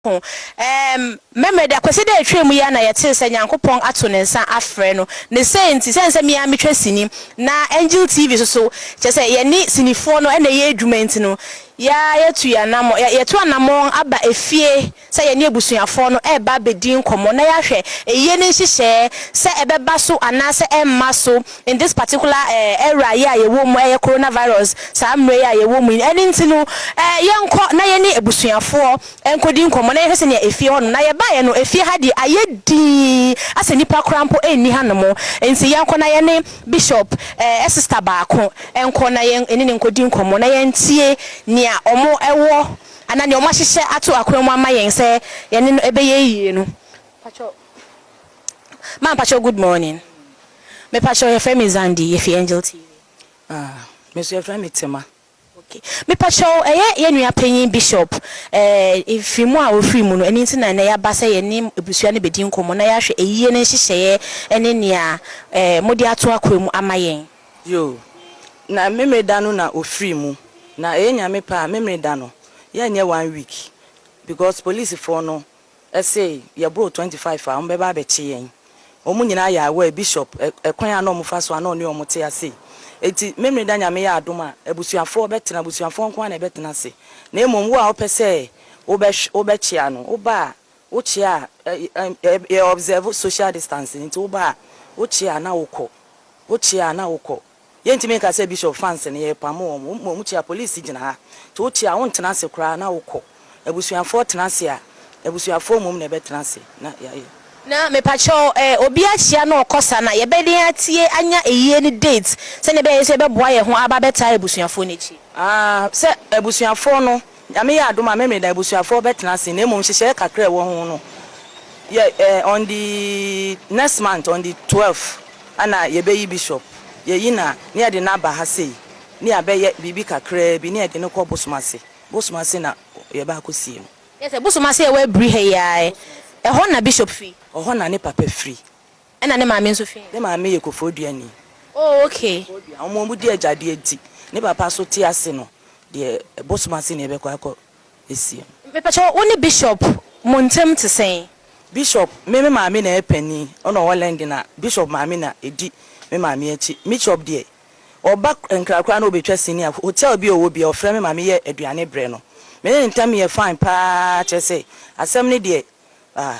ho. Erm, memory da kɔsi dɛ etwaa mu yi ara na yɛtsee sɛ Nyankopɔn ato ne nsa afrɛ no. Ne sei ntsi, esiane sɛ me ara metwa sini, na Angel TV so so, kyerɛ sɛ yɛne sinifoɔ no na ɛyɛ adwuma nti no, yɛ ara yɛatu yɛn anamɔ, yɛ, yɛatu anamɔn aba efie sɛ yɛne abusuafoɔ no reba abɛdi nkɔmmɔ na yɛahwɛ ayie no nhyehyɛɛ, sɛ ɛbɛba so anaasɛ ɛremma so, in this particular era yi a yɛwɔ mu, ɛyɛ corona virus saa mmerɛ yi a yɛwɔ mu yi, ɛno nti no yɛnkɔ na yɛne abusuafoɔ nkɔdi nkɔmmɔ na yɛnhwɛ sɛdeɛ efie hɔnom, na yɛbaeɛ no efie ha deɛ ayɛ dinn asɛ nnipa koraa mpo nni hanom, nti yɛnkɔ na yɛne Bishop sister baako nkɔ na yɛne no nkɔdi nkɔmmɔ na yɛntie nea wɔwɔ anaa nea wɔahyehyɛ ato akwan mu ama yɛn sɛ yɛne no ɛbɛyɛ yie no. Ma mpakyɛw good morning me pakyɛw yɛfrɛ me Zandi yɛfi angel TV. Ah me nso yɛfrɛ me Tema. Ok me pakyɛw ɛyɛ yɛ nua panyin bishop eh mfiri mu a ɔfiri mu no ɛno nti na ɛnɛ yaba sɛ yɛne abusua no bɛdi nkɔmmɔ na yɛahwɛ ayie no nhyehyɛeɛ ɛne nea eh mode ato akwan mu ama yɛn. Yoo na memeda no na ɔfiri mu na ɛyɛ nyame pɛ a memeda no yɛnyɛ one week because police foɔ no Ɛse yɛboro twenty five a wɔbɛba abɛkye yɛn. Wɔn nyinaa yɛ aware, Bishop, ɛkwan a na wɔfa so a na ɔne wɔn te ase. Enti Memeneda Nyame yɛ adom a, abusuafoɔ bɛtena, abusuafoɔ nko ara na ɛbɛtena ase. Na mmom wo a wopɛ sɛ wobɛhw, wobɛkyea no, woba a, wokyea a, ɛ, ɛ, yɛ observe social distancing nti woba a, wokyea a na wokɔ, wokyea a na wokɔ. Yɛntumi nka sɛ Bishop fans no yɛrepamo wɔn, wɔn mmom wɔkyia police gyina ha nti wokyia a wontena ase koraa na wokɔ, abusuafoɔ tena ase a abusuafoɔ mmom na ɛbɛtena ase na yɛayɛ. Na mepakyɛw eh obi akyia na ɔkɔ saa no a yɛbɛden atie anya ayie no date sɛnea ɛbɛyɛ a yɛn nso yɛbɛboa yɛn ho aba abɛtaa abusuafoɔ no akyi. Aah sɛ abusuafoɔ no Nyame yɛ adom a Memeneda abusuafoɔ bɛtena ase na mmom nhyehyɛɛ kakra a ɛwɔ ho no yɛ eh on the next month on the twelve ɛna yɛbɛyi bishop yɛyi no a na yɛde no aba ha sei na yɛabɛyɛ biribi kakraa bi na yɛde no kɔ bosom ase bosom ase na yɛbɛ akɔsie no. Yɛ sɛ bosom ase a ɛwɔ abiri ha yi ara ɛ ɛhɔ na bishop firi? Ɛhɔ na ne papa firi. Ɛna ne maame nso fi he? Ne maame yɛ Kofoduani. Oh okay. Kofoduan. Wɔn wɔn di agyadeɛ nti, ne papa nso te ase no, deɛ ɛbosom ase na yɛbɛkɔ akɔ asie no. Mepakyɛw, wo ne Bishop mo ntɛm te sɛn? Bishop, me me maame na ɛyɛ panin, ɔna ɔwɔ Lɛnde na Bishop maame na ɛdi me maame akyi. Mishop deɛ, ɔba Nkra koraa na ɔbɛtwa sini a, hotel bi a ɔwɔ biara ɔfrɛ me ma meyɛ aduane brɛ no. Me ne ne ntɛm yɛ fine paa, kyerɛ sɛ, asɛm no deɛ, ah.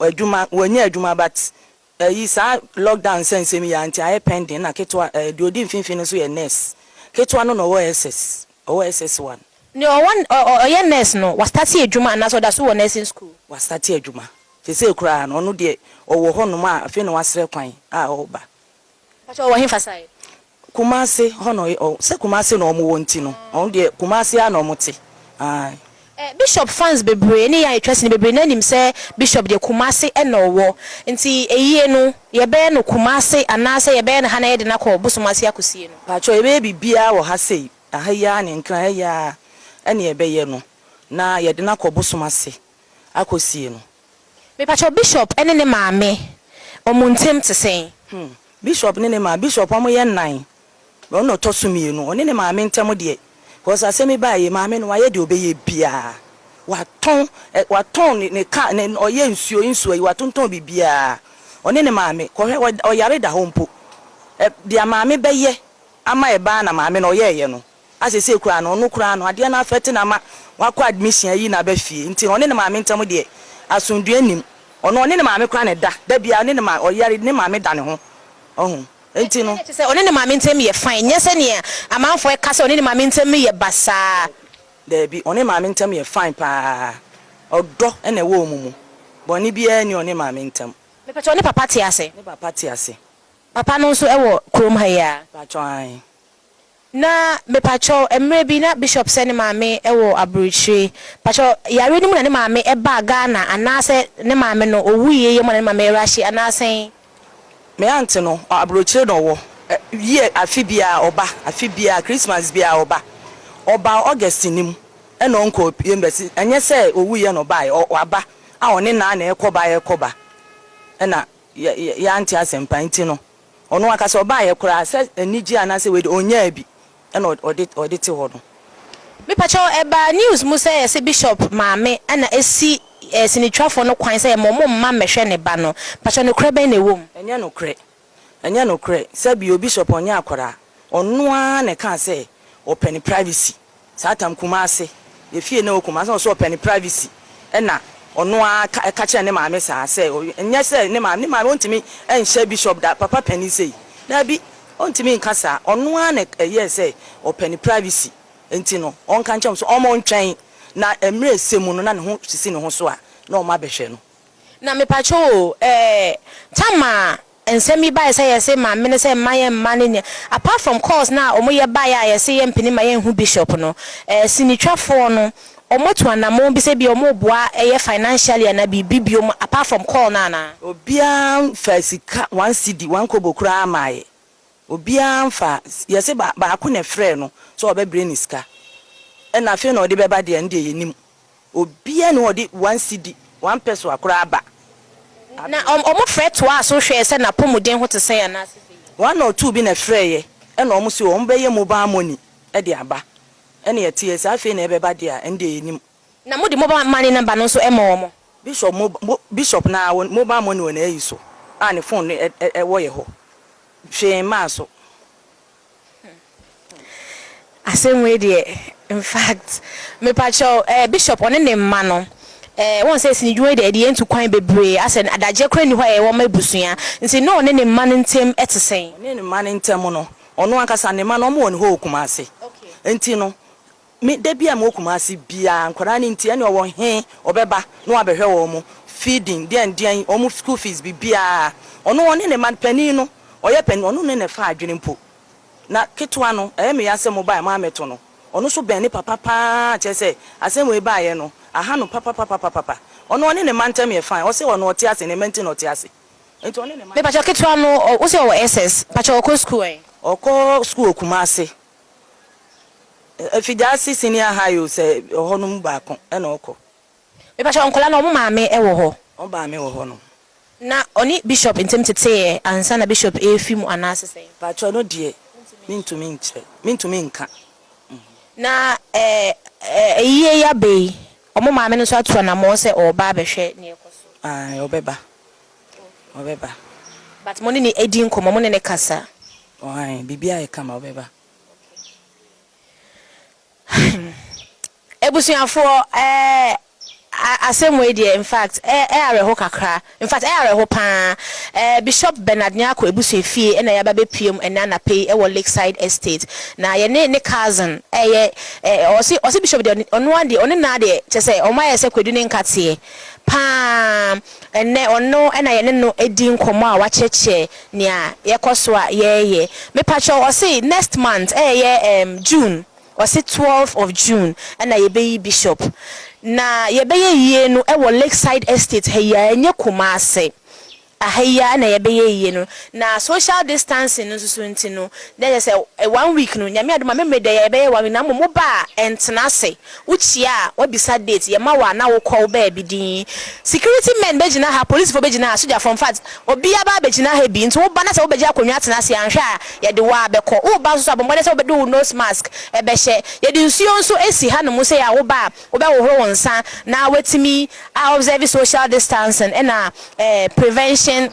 Adwuma wɔnyɛ adwuma but ɛyi saa lockdown nsɛnsɛm yi ara nti ayɛ pending na ketewa ɛɛ deɛ ɔdi mfimfini no nso yɛ nurse ketewa no na ɔwɔ SS ɔwɔ SS one. Deɛ ɔwɔ ɔ ɔyɛ nurse no wa starte adwuma anaasɛ ɔda so wɔ nursing school? Wa starte adwuma sesei koraa no ɔno deɛ ɔwɔ hɔ nom a afei na wa srɛ kwan a ɔreba. Mpakyɛw ɔwɔ hefa side? Kumase hɔ na ɔyɛ ɔɔ sɛ Kumase na ɔmo wɔ nti no ɔno deɛ Kumase ara na ɔmo te ae. Eh Bishop fans bebree ne yɛn a yɛtwa sini bebree naa nim sɛ Bishop deɛ Kumase na ɔwɔ nti ayie no yɛbɛyɛ no Kumase anaasɛ yɛbɛyɛ no ha na yɛde no akɔ Bosom ase akosie no? Paatwɔ yɛbɛyɛ biribiara wɔ ha sei aha yi ara ne Nkran ha yi ara ɛna yɛbɛyɛ no na yɛde no akɔ Bosom ase akɔsie no. Mepakyɛw Bishop ne ne maame ɔmo ntem te sɛn? Hmm Bishop ne ne maa Bishop ɔmo yɛ nnan na ɔno na ɔtɔ so mmienu ɔne ne maame ntɛm deɛ cause asɛm yi baa yie maame no wayɛ deɛ ɔbɛyɛ biaa watɔn ɛ watɔn ne ne car ne ɔyɛ nsuo nsuo yi watontɔn biribiaa ɔne ne maame kɔhwɛ wɔ ɔyare da hɔ mpo ɛ deɛ maame bɛyɛ ama ɛbaa na maame no ɔyɛɛyɛ no a sesei koraa no ɔno koraa no adeɛ no afɛte no ama wakɔ admission ayi naba fie nti ɔne ne maame ntam deɛ asomdwoeɛ nnim ɔno ɔne ne maame koraa na ɛda da biara ɔne ne maame ɔyare ne maame da ne ho ɔho nti no. Ɛyɛ te sɛ ɔne ne maame ntam yɛ fine nyɛ sɛdeɛ amanfoɔ ka sɛ ɔne ne maame ntam yɛ basaa. Daabi ɔne ne maame ntam yɛ fine paa ɔdɔ na ɛwɔ wɔn mu bɔne biara nni ɔne maame ntam. Mepakyɛw ne papa te ase? Ne papa te ase. Papa no nso wɔ kurom ha yi ara? Mepakyɛw aane. Na mepakyɛw, mmerɛ bi na Bishop sɛ ne maame wɔ aburokyire. Pakyɛw, yareɛ no mu na ne maame baa Ghana anaasɛ ne maame no ɔwuiɛ yɛ mu na ne maame rushe anaa sɛn? Me aunt no, aburokyire na ɔwɔ. Year, afe biara ɔba, afe biara, Christmas biara ɔba. Ɔbaa August no mu ɛna ɔnkɔɔ embassy. Ɛnyɛ sɛ ɔwuiɛ na ɔbaeɛ, waba a ɔne naa na ɛrekɔba ɛrekɔba. Ɛna yɛ, yɛ, yɛante asɛmpa nti no. Ɔno ankasa ɔbaeɛ koraa sɛ anigyeɛ anaasɛ wei deɛ ɔnnyaa bi ɛna ɔde ɔde te hɔ no. Mepakyɛ wo, ɛbaa news mu sɛ yɛse Bishop maame ɛna ɛsi sinitwafoɔ no kwan sɛ yɛma ɔmo mma mmɛhwɛ ne ba no. Pakyɛ nokorɛ bɛn na ɛwɔ mu? Ɛnyɛ nokorɛ, ɛnyɛ nokorɛ, sɛbio Bishop ɔnyɛ akwadaa, ɔno ara na ɛkaa sɛ ɔpɛ ne privacy. Saa tam Kumasi yɛ fie na wɔ Kumasi na ɔsɛ ɔpɛ ne privacy ɛna ɔno ara ka ɛka kyerɛ ne maame saa sɛ nyɛ sɛ ne maame ne maame ɔntumi nhyɛ bishop da papa panin sei daabi ɔntumi nka saa ɔno ara na ɛyɛɛ sɛ ɔpɛ ne privacy nti no ɔnka nkyɛm so ɔmo ntwɛn na mmerɛ ɛsɛ mu no na ne ho sisi ne ho so a na ɔmo abɛhwɛ no. Na mepakyɛw o ɛɛ tam a. Nsɛm bi bae sɛ yɛse ma mene sɛ mma yɛn mma ne nea apart from calls no a wɔn yɛ bae a yɛse yɛn mpene ma yɛn hu bishop no eh sinitwa foɔ no wɔn atu anamon bi sɛ bia wɔn boa ɛyɛ financially anaa biribi biom apart from call no anaa? Obiara nfaa sika one cedi one kobo koraa mmaeɛ obiara nfaa yɛse ba baako na ɛfrɛɛ no sɛ ɔbɛbrɛ ne sika ɛna afei na ɔde bɛba deɛ ɛno deɛ yɛnim. Obiara nni hɔ a ɔde one cedi, one pesoa koraa ba. Na wɔfrɛ toaa so hwɛɛ sɛ n'apɔmuden ho te sɛn anaasɛ bɛyɛ. One or two bi na ɛfrɛeɛ, ɛna wɔn se wɔn bɛyɛ mobile money de aba. Ɛna ɛteɛ saa, afei na ɛbɛba deɛ a, ɛno deɛ yɛnnim. Na mode mobile money number no nso ma wɔn? Bishop mo, mo, Bishop no ara wɔn mobile money wɔ n'ayi so a ne phone no ɛ, ɛ, ɛwɔ yɛ hɔ. Hwee mmaa so. Asɛm wei deɛ infact mepakyɛw eh bishop ɔne ne mma no eh wohu sɛ sini dwuma yi deɛ ɛde yɛn tu kwan bebree asɛ adagyeɛ koraa nni hɔ a yɛwɔ ma abusua nti ne ɔne ne mma no ntem ɛte sɛn? Ɔne ne mma no ntem no ɔno ankasa ne mma no wɔn wɔ ne hɔ wɔ Kumasi nti no Me da biaa mewɔ Kumasi biaa nkwadaa no nti ɛne ɔwɔ he ɔbɛba na wabɛhwɛ wɔn mo feeding deɛn deɛn wɔn mo school fees bibiaa ɔno ɔne ne ma panin no ɔyɛ panin ɔno ne ne fa adwene mpo na ketewa no ɛyɛ me ya sɛ mo baɛ mo amɛto no ɔno so bɛn ne papa paa kyerɛ sɛ asɛm wei baayɛ no aha no papapapapapa ɔno ɔne ne ma ntɛm yɛ fine ɔse ɔno ɔte ase ne ma nti na ɔte ase nti ɔne ne ma. Mepakyɛw ketewa no ɔ wose ɔwɔ SS pakyɛw ɔkɔ school ɛ? Ɔkɔ school wɔ Kumasi. Efi Darcy Senior High o sɛ ɔhɔ no mu baako na ɔkɔ. Me pakyɛ nkwadaa no ɔmo maame wɔ hɔ? Ɔmo maame wɔ hɔ nom. Na ɔne Bishop ntem teteeɛ ansa na Bishop eefi mu anaa se sɛn? Pakyɛ ɔno deɛ mentumi nkyerɛ, mentumi nka. Na ɛɛ ayie yi abɛ yi ɔmo maame no nso ato anamɔn sɛ ɔɔba abɛhwɛ neɛ ɛkɔ so? Ae ɔbɛba. Ɔbɛba. But mo ne no adi nkɔmmɔ, mo ne no kasa? Ɔan, biribi ayɛ kama, ɔbɛba. Okay. Abusuafoɔ, eh, asɛm wei deɛ, in fact, eh, eh awerɛho kakra. In fact, eh awerɛho paa. Eh, Bishop Bernard Nyarko abusua fie na yɛaba bɛpuem ɛnɛ anapa yi wɔ Lakeside Estate. Na yɛne ne cousin ɛyɛ, eh, ɔse, ɔse Bishop deɛ, ɔno ara deɛ, ɔne no ara deɛ, kyerɛ sɛ, wɔayɛ sɛ Kwadu ne Nkatseɛ paa. Ɛnnɛ, ɔno na yɛne no di nkɔmmɔ a wakyerɛkyerɛ nea yɛkɔ so a yɛreyɛ. Mepakyɛw, ɔse next month, ɛyɛ ɛɛm June, ɔse twelve of June na yɛbɛyi Bishop. Na yɛbɛyɛ yie no wɔ Lakeside Estate ha yi ara, ɛnyɛ Kumasi. Aha yi ara na yɛbɛyɛ yie no. Na social distancing no nso so nti no, na kyerɛ sɛ one week no, Nyame adom a, me mmerɛ deɛ yɛbɛyɛ one week, na mmom woba a, ɛntena ase. Wo kyia a, w'abisa date, yɛ ma wo a na wo kɔ wo baabi dinn. Security men bɛ gyina ha, polisifo bɛ gyina ha, sogyafo, infact obia baa bɛ gyina ha bi, nti wo ba na sɛ wo bɛ gye akonnwa atena ase a, anhwɛ a yɛ de wo ara bɛ kɔ. Wo ba nso so a, bɔ mmɔden sɛ wo bɛ de wo nose mask bɛ hyɛ. Yɛ de nsuo nso asi ha nom sei a wo ba a, wo bɛ hohoro wo nsa na w'atumi a observe social distancing ɛna prevention.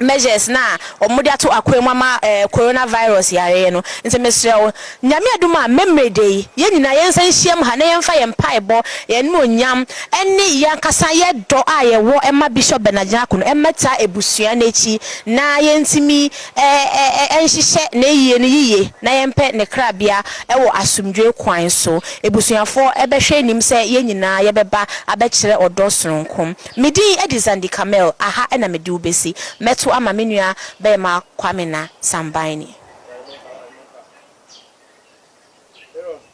measures no a wɔde ato akoa mu ama corona virus yareɛ no nti mesrɛ wo Nyame adom a mɛmere da yi yɛn nyinaa yɛn nsa nhyiam ha na yɛn fa yɛn mpaebɔ, yɛn animuonyam ne yɛn ankasa yɛ dɔ a yɛ wɔ ma Bishop Bernard Nyarko no mmɛtaa abusua no akyi na yɛn tumi nhyehyɛ n'ayie no yiye na yɛn pɛ ne krabea wɔ asomdwoe kwan so. Abusuafoɔ bɛhwɛ anim sɛ yɛn nyinaa yɛbɛba abɛkyerɛ ɔdɔ sononko. Me din de Zandi Kamel, aha na mede wo bɛsi. Mɛto ama me nua bɛɛma Kwamina Sambaini.